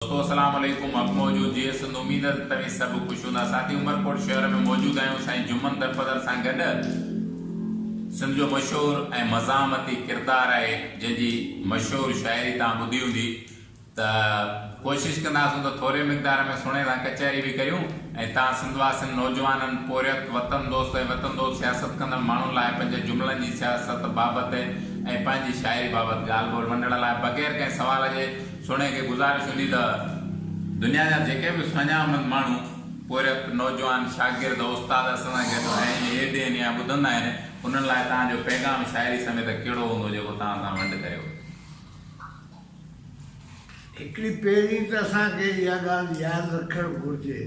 دوستو اسلام عليڪم حق موجود جيئي سنڌ اميد ته توهين سڀ خوش هوندا ساٿي عمرڪوٽ شهر ۾ موجود آهيون سائين جمن درپدر سان گڏ سنڌ جو مشهور ۽ مزاحمتي ڪردار آهي جنهن جي مشهور شاعري توهان ٻڌي هوندي ته ڪوشش ڪنداسون ته ٿوري مقدار ۾ سڻي سان ڪچهري به ڪريون ۽ توهان سنڌ واسين نوجوانن پورهيت وطن دوست ۽ وطن دوست سياست ڪندڙ ماڻهن لاء پنهنجي جملن جي سياست بابت ۽ پنهنجي شاعري بابت ڳالهه ٻولهه ونڊڻ لاء بغير ڪنهن سوال جي سهڻي کي گذارش هوندي ته دنيا جا جيڪي به سڃا مند ماڻهو پورهيت، نوجوان، شاگرد، استاد اسان سان گڏ آهن يا اهي ڏينهن نيا ٻڌندا آهن انهن لاء توهان جو پيغام شاعري سميت ڪهڙو هوندو جيڪو توهان سان ونڊ ڪريو؟ هڪڙي پهرين ته اسان کي اها ڳالهه ياد رکڻ گهرجي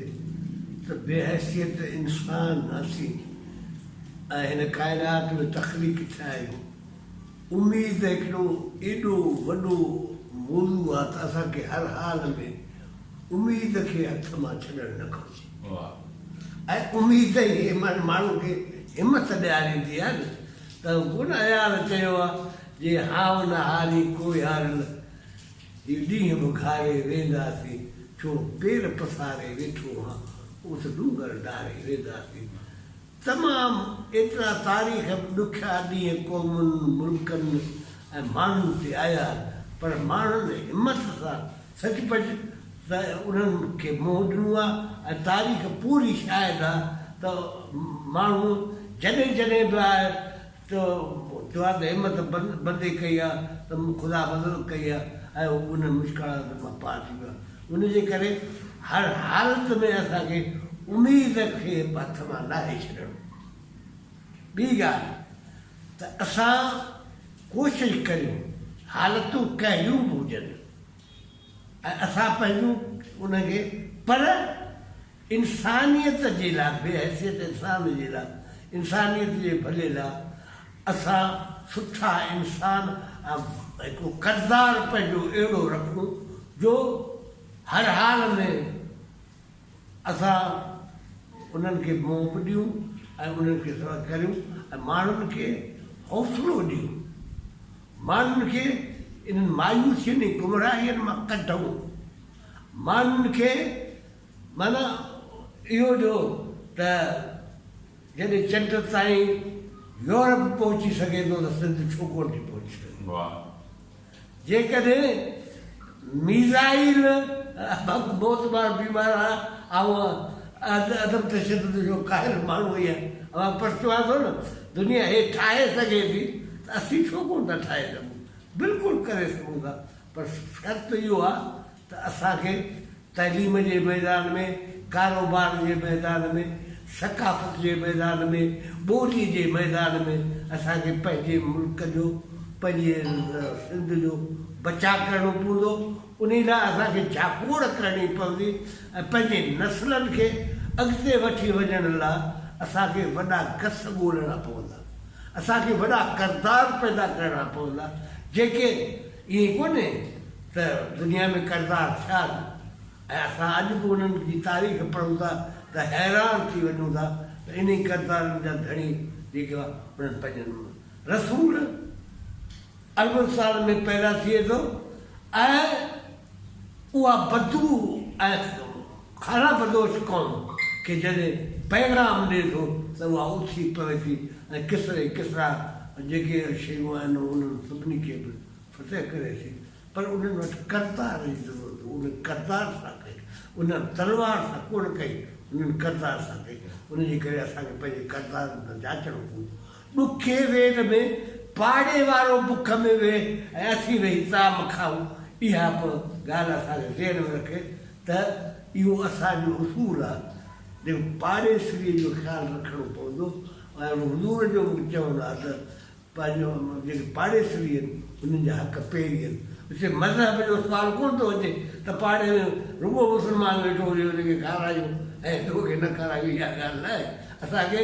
ته بي حيثيت انسان اسين ۽ هن ڪائنات ۾ تخليق ٿيا آهيون. اميد ته هڪڙو ايڏو وڏو موضوع آ ته اسان کي هر حال ۾ اميد کي هٿ مان ڇڏڻ نه گهرجي ۽ اميد ئي ماڻهن کي همٿ ڏياريندي آ نه ته ڪونه اياز چيو آ جي هائو نه هاري ڪوئي هارل هي ڏينهن به گهاري وينداسين ڇو پير پساري ويٺو هان اوس ڏونگر ڊاري وينداسين. تمام ايترا تاريخ ۾ ڏکيا ڏينهن قومن، ملڪن ۽ ماڻهن تي آيا پر ماڻهن همت سان سچ پچ ته انهن کي منهن ڏنو آ ۽ تاريخ پوري شاهد آ ته ماڻهو جڏهن جڏهن به آء تو چوان ته همت بندي ڪئي آ ته خدا مدد ڪئي آ ۽ انهن مشڪلاتن مان پار ٿي ويو آ. ان جي ڪري هر حالت ۾ اسان کي اميد کي هٿ مان ناهي ڇڏڻ. ٻي ڳالهه ته اسان ڪوشش ڪريون حالتون ڪهڙيون به هجن ۽ اسان پنهنجون انهن کي پر انسانيت جي لاء بي حيثيت انسان جي لاء انسانيت جي ڀلي لاء اسان سٺا انسان ۽ هڪ ڪردار پنهنجو اهڙو رکون جو هر حال ۾ اسان انهن کي منهن به ڏيون ۽ انهن کي سڏ ڪريون ۽ ماڻهن کي حوصلو ڏيون ماڻهن کي انهن مايوسين ۽ گمراهين مان ڪڍون ماڻهن کي معنيٰ اهو جو ته جڏهن چٽ تائين يورپ پهچي سگهي ٿو ته سنڌ ڇو ڪونه ٿي پهچي سگهي؟ جيڪڏهن ميزائيل بابت موتبار بيمار آ آئون عدم تشدد جو قائل ماڻهو هي اوهان پر چوان ٿو نه دنيا هي ٺاهي سگهي ٿي ته اسين ڇو ڪونه ٿا ٺاهي سگهون؟ بلڪل ڪري سگهون ٿا پر شرط اهو آ ته اسان کي تعليم جي ميدان ۾، ڪاروبار جي ميدان ۾، ثقافت جي ميدان ۾، ٻولي جي ميدان ۾ اسان کي پنهنجي ملڪ جو، پنهنجي سنڌ جو بچاء ڪرڻو پوندو، انهي لاء اسان کي جاکوڙ ڪرڻي پوندي ۽ پنهنجي نسلن کي اڳتي وٺي وڃڻ لاء اسان کي وڏا گس ڳولڻا پوندا، اسان کي وڏا ڪردار پيدا ڪرڻا پوندا، جيڪي. ائين ڪونهي ته دنيا ۾ ڪردار ٿيا نه ۽ اسان اڄ به انهن جي تاريخ پڙهون ٿا ته حيران ٿي وڃون ٿا ته انهي ڪردارن جا ڌڻي جيڪي انهن پنهنجن رسول اربن سالن ۾ پيدا ٿئي ٿو ۽ اها بدبو ۽ کارا بدوش قوم کي جڏهن پيغام ڏئي ٿو ته اها اٿي پوي ٿي ۽ ڪسري ۽ ڪسرا جيڪي شيون آهن انهن سڀني کي به فتح ڪري ٿي پر انهن وٽ ڪردار جي ضرورت هو انهن ڪردار سان ڪئي انهن تلوار سان ڪونه ڪئي انهن ڪردار سان ڪئي ان جي ڪري اسان کي پنهنجي ڪردارن تان جاچڻ پوندو. ڏکي وير ۾ پاڙي وارو بک ۾ ويهي ۽ اسين ويهي طعام کائون، اها به ڳالهه اسان کي ذهن ۾ رکي ته اهو اسان جو اصول آهي، جيڪو پاڙيسريء جو خيال رکڻو پوندو ۽ حضور جو به چوڻ آهي ته پنهنجو جيڪي پاڙيسري آهن، انهن جا حق پيري آهن. هتي مذهب جو سوال ڪونه ٿو اچي ته پاڙي ۾ رڳو مسلمان ويٺو هجي، ان کي کارايو ۽ ٻيو کي نه کارايو، اها ڳالهه نه آهي. اسان کي.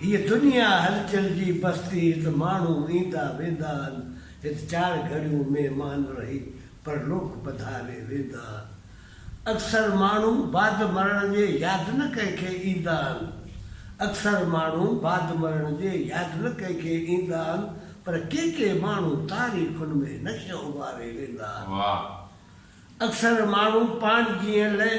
هيء دنيا هلچل جي بستي، هت ماڻهو ايندا ويندا آهن، هت چار گهڙيون مهمان رهي پرلوڪ پڌاري ويندا آهن. اڪثر ماڻهو بعد مرڻ جي ياد نه ڪنهن کي ايندا آهن، اڪثر ماڻهو بعد مرڻ جي ياد نه ڪنهن کي ايندا آهن، پر ڪي ڪي ماڻهو تاريخن ۾ نقش اڀاري ويندا آهن. اڪثر ماڻهو پاڻ جيئن لئه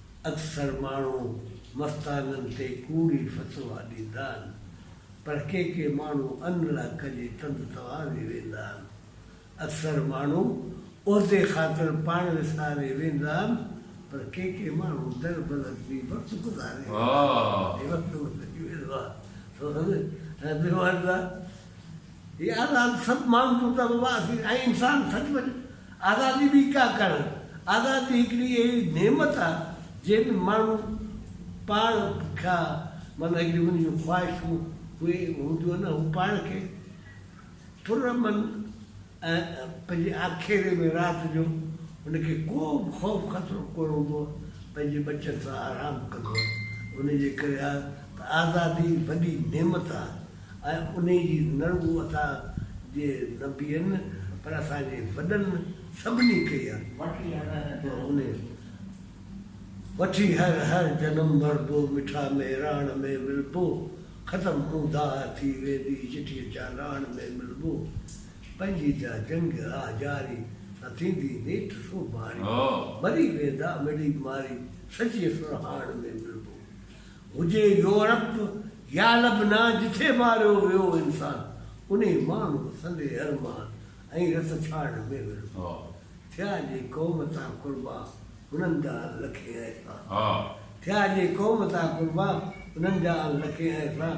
اڪثر ماڻهو مستانن تي ڪوڙي فتوا ڏيندا آهن، پر ڪي ڪي ماڻهو ان لاء ڪجي تند تواري ويندا آهن. اڪثر ماڻهو عهدي خاطر پاڻ وساري ويندا آهن، پر ڪي ڪي ماڻهو در بدر ٿي وقت گذاري ويندا آهن. آزادي ڀي ڪا ڪڻ، آزادي هڪڙي اهڙي نعمت آ جنهن ۾ ماڻهو پاڻ کان معنيٰ هڪڙيون هن جون خواهشون اهي هونديون آهن هو پاڻ کي پر امن ۽ پنهنجي آکيري ۾ رات جو هن کي ڪو به خوف خطرو ڪونه هوندو آ پنهنجي ٻچن سان آرام ڪندو آ ان جي ڪري آ ته آزادي وڏي نعمت آ. ۽ انهي جي نڙگهو اسان جي نه بيهن پر اسان جي وڏن سڀني ڪئي آ. وٺي هر هر جنم مربو مٺا مهراڻ ۾ ملبو ختم مون داهه ٿي ويندي چٺيء چالاڻ ۾ ملبو پنهنجي جا جنگ آ جاري سان ٿيندي نيٺ سوڀاڻي مري ويندا مڙئي ماري سچي سرهاڻ ۾ ملبو هجي يورپ يا لبنان جتي ماريو ويو انسان انهي ماڻهو سندي ارمان ۽ رت ڇاڙڻ ۾ ورهو ٿيا جي قوم تان قربان انهن جا ان لکين احسان ٿيا جي قوم تان قربان انهن جا ان لکين احسان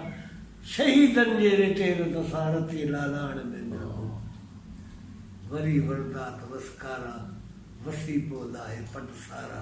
شهيدن جي ريٽي رت سان رتي لالاڻ ۾ ورهو وري وردات وسڪارا وسي پوندا هي پٽ سارا.